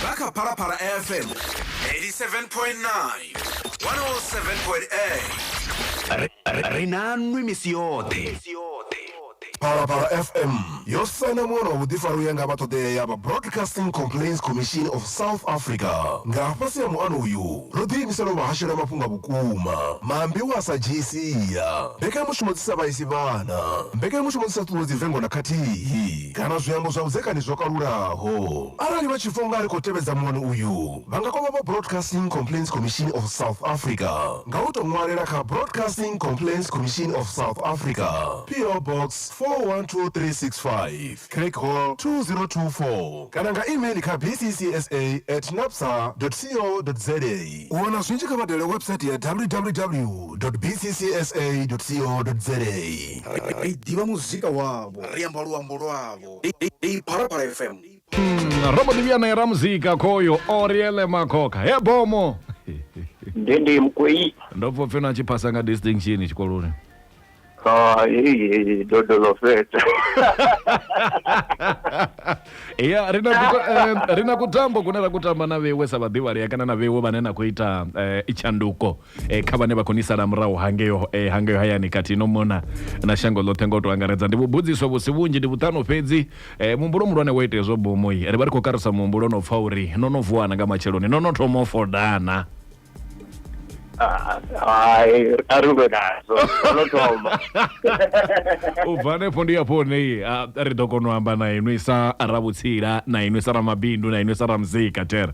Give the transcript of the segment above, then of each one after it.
Nga kha Phalaphala FM 87.9 107.8 ri na nwi misi yoṱhe Phalaphala FM yo saina muṅwe wa vhuḓifari u ya nga vha ṱoḓea ya vha Broadcasting Complaints Commission of South Africa. Nga fhasi ha muano uyu, ro ḓiimisela u vha hashela mafhungo a vhukuma, maambiwa a sa dzhii sia, mbekanyamushumo dzi sa vhaisi vhana, mbekanyamushumo dzi sa ṱuṱuwedzi vengo na khathihi. kana zwiambo zwa vhudzekani zwo kalulaho. Arali vha tshi pfa u nga ri khou tevhedza muano uyu, vha nga kwama vha Broadcasting Complaints Commission of South Africa nga u tou ṅwalela kha Broadcasting Complaints Commission of South Africa, PO Box 412365, Craigwhal 2024, kana nga e-mail kha bccsa at napsa dot co dot za. U wana zwinzhi kha vha dalele website ya www dot bccsa dot co dot za. Ri ḓivha muzika wavho. lwavho ri amba luambo lwavho ndi phalaphala fm Mm, robo diviana era muzika khoyo oriele makhokha he bomo ndi ndi mkwei ndo pfa upfi no achiphasa nga distinction tshikoloni Ah, heyi dodolofeta ya rina kuta, eh, rina kutambo kune ra kutamba na veiwe sa vhaḓivhalea kana na veiwe vhane na khou ita eh, itshanduko kha vhane vha khou ni sala murahu hangeo hangeo hayani khathihi no mona na shango ḽoṱhe nga u tou angaredza. Ndi vhubvudziswa vhu si vhunzhi, ndi vhuṱanu fhedzi. Muhumbulo muhulwane wa itea zwo bomoyi. Ri vha ri khou karusa muhumbulo na u pfa uri no no vuwa na nga matsheloni, no no thoma u foda na. Hai, a ri lwe nazwo, ro no thoma. U bva hanefho ndi hafho hune ri ḓo kona u amba na inwi sa ravhutsila, na inwi sa ramabindu, na inwi sa ramuzika. Thera.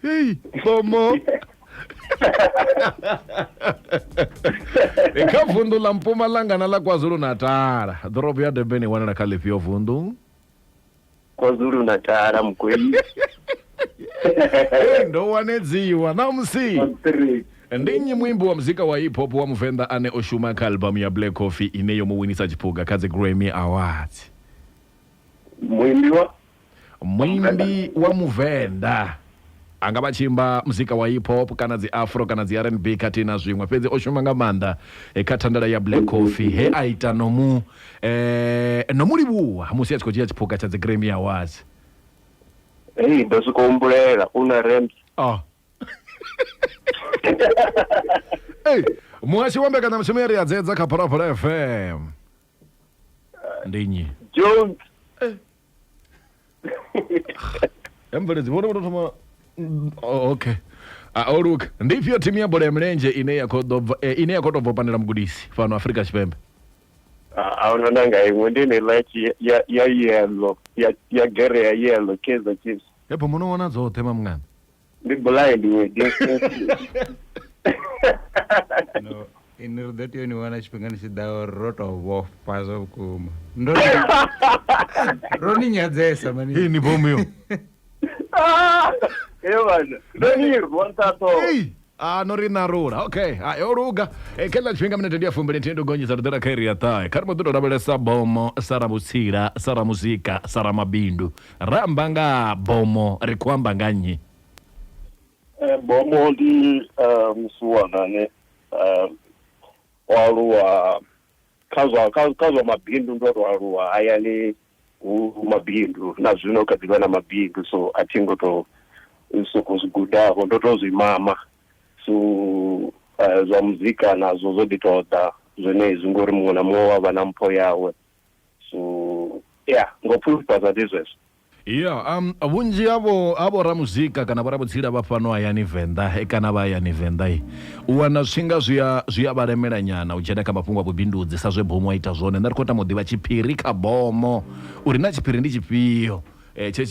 Hey, Como? Hi kha vundu ḽa Mpumalanga na ḽa KwaZulu Natal. Ḓorobo ya Durban i wanala kha ḽifhio vundu? kwazulu natala mugweli Hey, ndo wanedziwa ṋamusi. three Ndi nnyi muimbi wa muzika wa hip hop wa Muvenḓa ane o shuma kha albamu ya Black Coffee ine yo mu winisa tshiphuga kha dzi Grammy Awards? muimbi wa Muimbi wa Muvenda a nga vha tshi imba muzika wa hip hop kana dzi afro kana dzi RNB khathihi na zwiṅwe, fhedzi o shuma nga maanḓa kha thandela ya Black Coffee he a ita no mu no mu livhuwa musi a tshi khou dzhia tshiphuga tsha dzi Grammy Awards. Hei ndo sokou humbulela u na rent. Oh. Ei, muhashi wa mbekanyamushumo ya ri a dzedza kha Phalaphala FM. Ndi nnyi? Jones. ya mveledzi vhone vho tou thoma Mm, oh, okay Ah, o luka ndi ifhio thimu ya bola ya milenzhe ine ya khou ḓo bva- eh, ine ya khou tou bva u pandela mugudisi fhano afrika tshipembe Ah, a huna na nga iṅwe ndi eneiḽa ya tshi- ya ya yellow ya ya gere ya yellow kaizer chiefs hepo muno wana dzoṱhe mamngana ndi blind iwe no ini ri ḓo tea ni wana tshifhinga ni tshi ḓa uri ro to vhofha zwa vhukuma ndo ro ni nyadzesa mani hii ni bomu yo evana ndo ni rwa nṱhatho Ei, a no ri narula okay ha yo luga e kha ḽa tshifhinga minete ndi ya fumbili nthihi ndo gonyisa ri ḓela kha iri ya ṱahe kha ri mbo ḓi tou lavhelesa bomo sara vhutsila sara muzika sara mabindu Ra amba nga ha bomo ri khou amba nga nnyi? Eh, bomo ndi eh, musiwana ane eh, o aluwa kha zwa kha kha zwa mabindu ndo to aluwa hayani hu hu mabindu na zwino kha ḓivha na mabindu so a thi ngo to soko zwi gudavho ndo to zwi mama so eh, zwa muzika nazwo zwo ḓi ṱoḓa zwenezwi ngori muṅwe na muṅwe wa vha na mpho yawe so ya ngo pfulufhadza ndi zwezwo ya um vhunzhi havho havho ramuzika kana vho ramudzila vha fhano hayani venḓa eh, kana vha hayani venḓa eh, u wana zwinga zwi a zwi a vha lemela nyana u dzhena kha mafhungo a vhubindudzi sa zwe bomo a ita zwone nṋe ri khou tama u ḓivha tshiphiri kha bomo uri na tshiphiri ndi tshifhio Tshe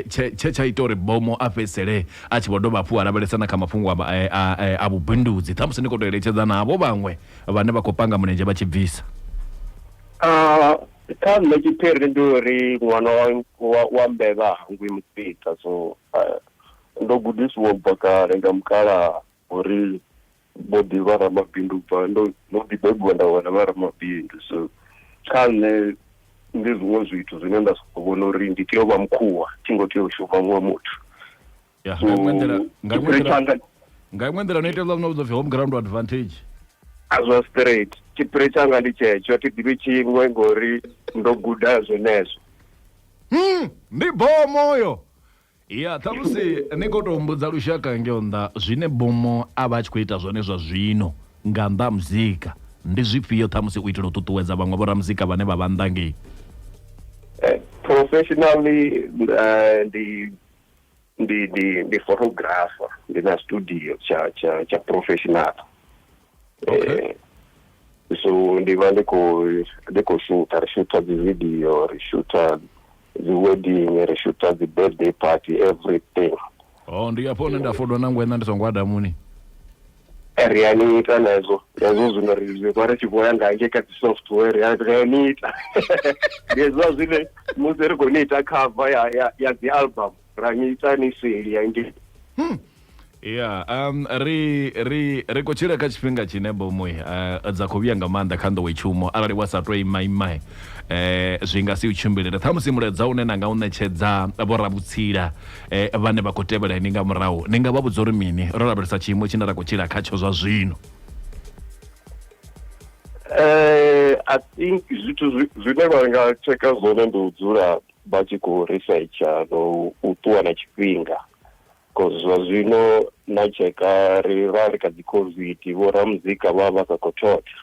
tshe tsha ita uri Bhomo a fhedzisele a tshi vho dovha hafhu a lavhelesa na kha mafhungo a vhubindudzi, ṱhamusi ni khou tou eletshedzana havho vhaṅwe vhane vha khou panga mulenzhe vha tshi bvisa. Kha nṋe tshiphiri ndi uri ṅwana wa wa mbevha ha hangwi mufhiṱa so ndo gudisiwa u bva kale nga mukalaha. Ho ri vho ḓi vha ramabindu ubva ndo ndo ḓi bebiwa nda vhona vha ramabindu so kha nṋe ndi zwiṅwe zwithu zwine nda soko vhona uri ndi tea u vha mukhuwa thi ngo tea u shuma muṅwe muthu ya nga iṅwe nḓila nga iṅwe nḓila nga iṅwe nḓila no ita hezwiḽa zwine vhidzwa upfhi home ground advantage a zwa straight tshiphiri tshanga ndi tshetsho thi ḓivhi tshiṅwe ngori ndo guda zwenezwo hmm ndi bomo yo Ya, ṱhamusi ni khou tou humbudza lushaka ngeo nnḓa zwine Bummo a vha a tshi khou ita zwone zwa zwino nga nnḓa ha muzika. Ndi zwifhio ṱhamusi u itela u ṱuṱuwedza vhaṅwe vhoramuzika vhane vha vha nnḓa ngei? Professionally ndi ndi ndi ndi photographer, ndi na studio tsha tsha tsha professional. Eh, so ndi vha ndi khou ndi khou shooter ri shooter dzi video ri shooter dzi wedding ri shooter dzi birthday party everything oh ndi afho hune nda fodwa na ngwena ndi songo adamuni ri a ni ita na hezwo hezwo zwino ri ri vha ri tshi vhoya nga nge kha dzi software ri a ri a ni ita ndi hezwiḽa zwine musi ri khou ni ita cover ya ya ya dzi album ra ni ita ni seli ya nge hmm. ya um ri ri ri khou tshila kha tshifhinga tshine bomoy uh, eh, dza khou vhuya nga maanḓa kha nḓowetshumo arali wa sa tou imaimae eh zwi nga si u tshimbilele ṱhamusi muledza une na nga u ṋetshedza vhorabutshila eh vhane vha khou tevhela ni nga murahu ni nga vha vhudza uri mini ro lavhelesa tshiimo tshine ra khou tshila khatsho zwa zwino eh i think zwithu zwine vha nga tsheka zwone ndi u dzula vha tshi khou risetsha na u ṱuwa na tshifhinga because zwa zwino na tsheka ri ra ri kha dzi covid vho ramuzika vha vha sa khou thotha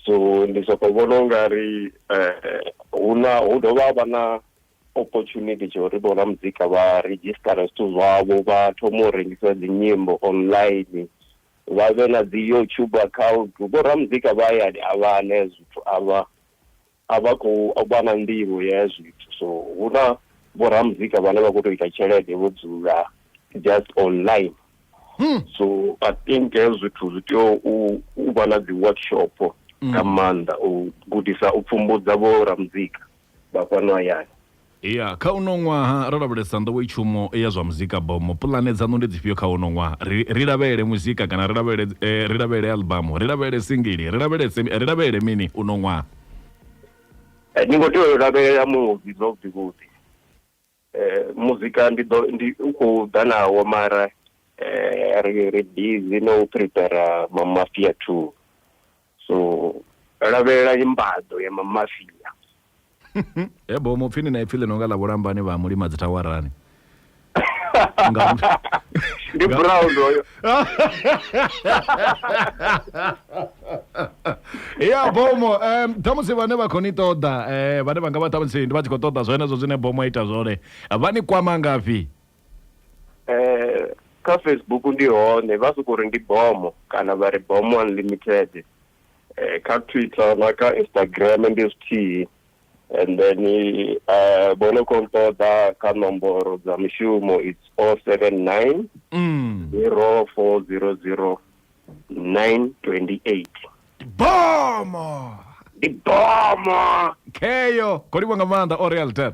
so ndi soko vhona u nga ri eh, hu na hu dovha ha vha na opportunity tsha uri vho ramuzika vha redzhisitara zwithu zwavho vha thoma u rengisa dzinyimbo online vha vhe na dzi youtube account vho ramuzika vha hayani a vha ne zwithu a vha A vha khou vha na nḓivho ya ya zwithu so hu na vho ramuzika vhane vha khou tou ita tshelede vho dzula just online so I think hezwo zwithu zwi tea u u vha na dzi workshop nga maanḓa u gudisa u pfhumbudza vho ramuzika vha fhano hayani Ya, kha uno ṅwaha ro lavhelesa nḓowetshumo ya zwa muzika bomo. Puḽane dzaṋu ndi dzifhio kha uno ṅwaha? Ri, ri lavhelele muzika kana ri lavhelele, ri lavhelele aḽbamu? Ri lavhelele singili? Ri lavhelese, ri lavhelele mini uno ṅwaha? Ni khou tea u lavhelela muvi zwavhuḓi-vhuḓi. Muzika ndi ḓo, ndi, u khou ḓa nawo mara ri, ri busy na u prepare Mammafiya Two. So lavhelela imbaḓo ya mamafia. He bo mupfi ni na ipfi ḽi no nga ḽa vhulambani vha mulima dzi thawarani. Ndi brown hoyo. Ya bomo um ṱhamusi vhane vha khou ni ṱoḓa eh vhane vha nga vha ṱhamusi ndi vha tshi khou ṱoḓa zwenezwo zwine bomo a ita zwone vha ni kwama ngafhi eh, kha facebook ndi hone vha soko ri ndi bomo kana vha ri bomo unlimited eh, kha twitter na kha instagram ndi zwithihi and then uh, vho no khou nṱoḓa kha nomboro dza mushumo its o oh seven nine mm. zero four zero zero nine twenty eight bomo ndi bomo kheyo kho livha nga maanḓa o real ten